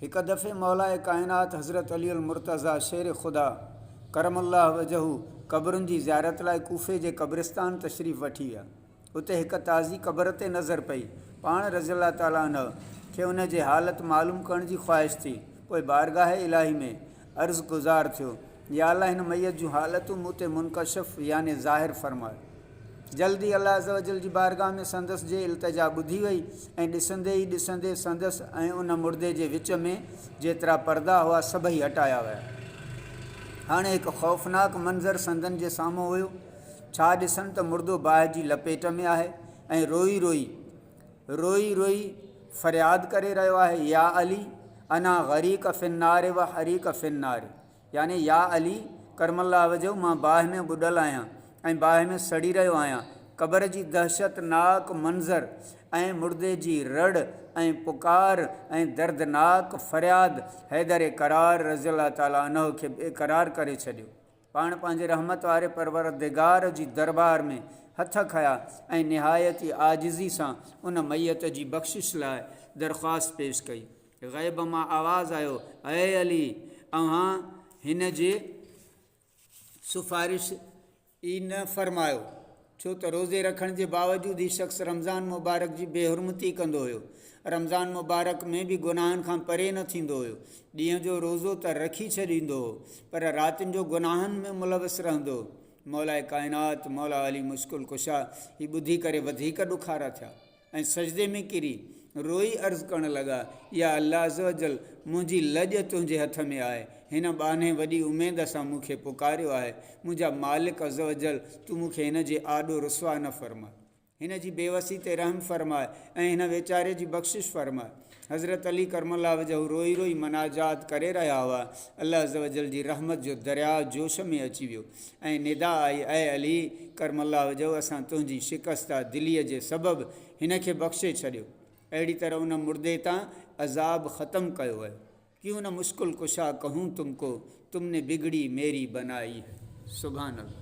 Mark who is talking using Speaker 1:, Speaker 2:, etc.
Speaker 1: هڪ دفعي مولائي ڪائنات حضرت علي المرتضيٰ شير خدا ڪرم الله وجهه قبرن جي زيارت لاء ڪوفي جي قبرستان تشريف وٺي ويا. اتي هڪ تازي قبر تي نظر پئي. پاڻ رضي الله تعالٰي عنه کي ان جي حالت معلوم ڪرڻ جي خواهش ٿي. پوء بارگاهه الاهي ۾ عرض گذار ٿيو، يا الله هن ميت جون حالتون مون تي منڪشف يعني ظاهر فرماء. جلد ئي الله عزّوجلّ جي بارگاھ ۾ سندس جي التجا ٻڌي وئي ۽ ڏسندي ئي ڏسندي سندس ۽ ان مڙدي جي وچ ۾ جيترا پردا هئا سڀئي هٽايا ويا. هاڻي هڪ خوفناڪ منظر سندن جي سامهون هيو. ڇا ڏسن ته مڙدو باهه جي لپيٽ ۾ آهي ۽ روئي روئي. روئي روئي فرياد ڪري رهيو آهي يا علي انا غريق في النار و حريق في النار يعني يا علي ڪرم الله وجهه مان باهه ۾ ٻڏل آهيان ۽ باهه ۾ سڙي رهيو آهيان قبر جي دهشت ناڪ منظر ۽ مڙدي جي رڙ ۽ پڪار ۽ دردناڪ فرياد حيدر قرار رضي الله تعالٰي عنه کي بي قرار ڪري ڇڏيو پاڻ پنهنجي رحمت واري پروردگار جي دربار ۾ هٿ کنيا ۽ نهايت ئي عاجزي سان ان ميت جي بخشش لاء درخواست پيش ڪئي. غيب مان آواز آيو، اي علي! اوهان هن جي سفارش ئي نه فرمايو. ڇو ته روزي رکڻ جي باوجود هي شخص رمضان مبارڪ جي بي حرمتي ڪندو هيو. رمضان مبارڪ ۾ به گناهن کان پري نه ٿيندو هيو. ڏينهن جو روزو ته رکي ڇڏيندو هو پر راتين جو گناهن ۾ ملوث رهندو هو. مولائي ڪائنات، مولا علي مشڪل ڪشا هي ٻڌي ڪري وڌيڪ ڏکارا ٿيا. ۽ سجدي ۾ ڪري روئي عرض ڪرڻ لڳا، يا الله عزّوجلّ! منهنجي لڄ تنهنجي هٿ ۾ آهي، هن ٻانهي وڏي اميد سان مون کي پڪاريو آهي، منهنجا مالڪ عزّوجلّ! تون مون کي هن جي آڏو رسوا نه فرماء. هن جي بيوسي تي رحم فرماء ۽ هن ويچاري جي بخشش فرماء. حضرت علي ڪرم الله وجهه روئي روئي مناجات ڪري رهيا هئا، الله عزّوجلّ جي رحمت جو درياء جوش ۾ اچي ويو ۽ ندا آئي، اي علي ڪرم الله وجهه اسان تنهنجي شڪسته دليء جي سبب هن کي بخشي ڇڏيو، اهڙي طرح ان مردي تان عذاب ختم ڪيو ويو. ڪيون نه مشڪل ڪشا ڪهون تم ڪو، تم ني بگڙي ميري بنائي هي. سبحان الله.